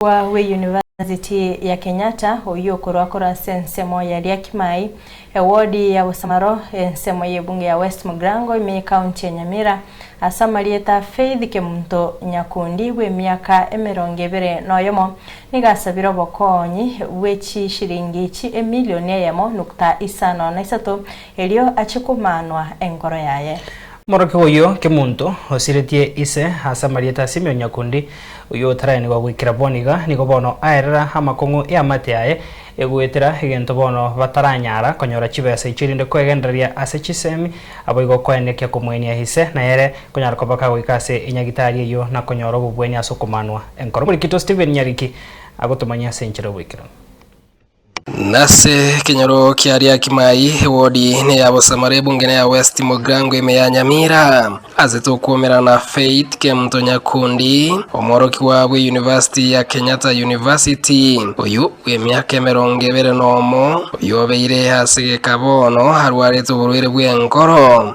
Omorwa bwe University ya Kenyatta oyio okorwa korwa ase ensemo ya Liakimai, ewodi ya Bosamaro, ensemo y'ebunge ya West Mugrango ime y'ekaunti ya Nyamira, ase amarieta Faith Kemunto Nyakundi bw'emiaka emerongo ebere noyomo, nigo asabire obokonyi bwe chishiringi chi emilioni eyemo nukta isano na isato erio achie komanwa enkoro yaye. Omorokigwa oyio kemonto osiretie ise ase amarieta a Simeoni Nyakundi, oyio otaraenigwa goikera bono iga, nigo bono aerera amakong'u 'eamate aye, egoetera egento bono bataranyara konyora chibesa echio rinde kwegendereria ase chisemi, aboigo kwaende ekia komoenia ise na ere konyara kobaka goika ase enyagitari eyio na konyora obobweni ase okomanwa enkoro. Oborikito Stephen Nyariki agotomanyia ase enchera y'oboikeranu. Nase ekenyoro kia Riakimai, ewodi neya Bosamara ebunge neya West Mogrango ime ya Nyamira. Ase tokwomerana Faith Kemto Nyakundi, omworokigwa bwe University ya Kenyatta University, oyio bw'emiaka emerongo ebere nomo, oyio obeire ase geka bono arwarete oborwaire bw'enkoro.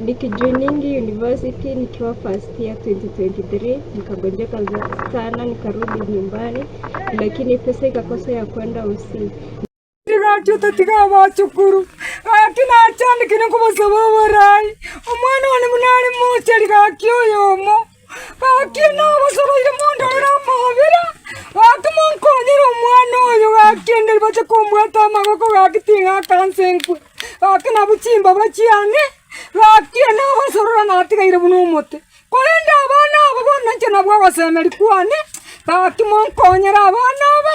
Nikijuningi university nikiwa first year 2023 nikagonjeka sana nikarudi nyumbani lakini pesa ikakosa ya kwenda usi Tigaki otatiga abachukuru gaki nachandikire nkobosaba oborai omwana one buna are mochari gaki oyomo Gaki nabasoroire mondorere amabera, gaki monkonyere omwana oyo, gaki inde ribache komwata amaboko, gaki ting'aka nse nkwe, gaki nabwo chimbabae chiane, gaki nabasorora natigaire buna omote. Korende abana aba bono inche nabwo ogosemeri kwane, gaki monkonyere abana aba.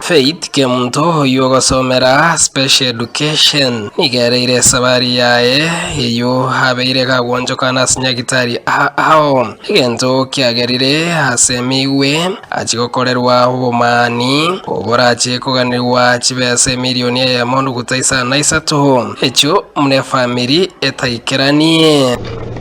Faith Kemunto oyio ogosomera Special Education nigo ereire esabari yaye eyio abeire gagwonchokana ase Nyagitari ao, egento kiagerire ase emegwe achia gokorerwa obomani oborachie koganigwa chibesa emirioni eyemo nuguta isano na isato echio buna efamiri etaikeranie.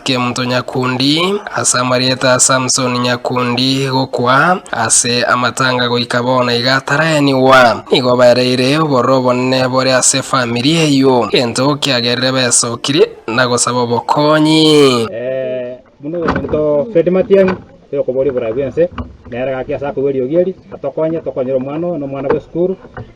Kemto nyakundi, ase amarieta a Samsoni nyakundi gokwa, ase amatanga goika bono iga ataraenigwa, nigo baereire obororo obonene bore ase efamiri eyio, gento kiagerire besokire na gosaba obokonyi. Eh, buna omonto Fred Matiang'i tiri koboria oborai bw'ense, nere gaki ase akoigwa eriogi eri, atokonye tokonyere omwana oyo na omwana bw'esukuru,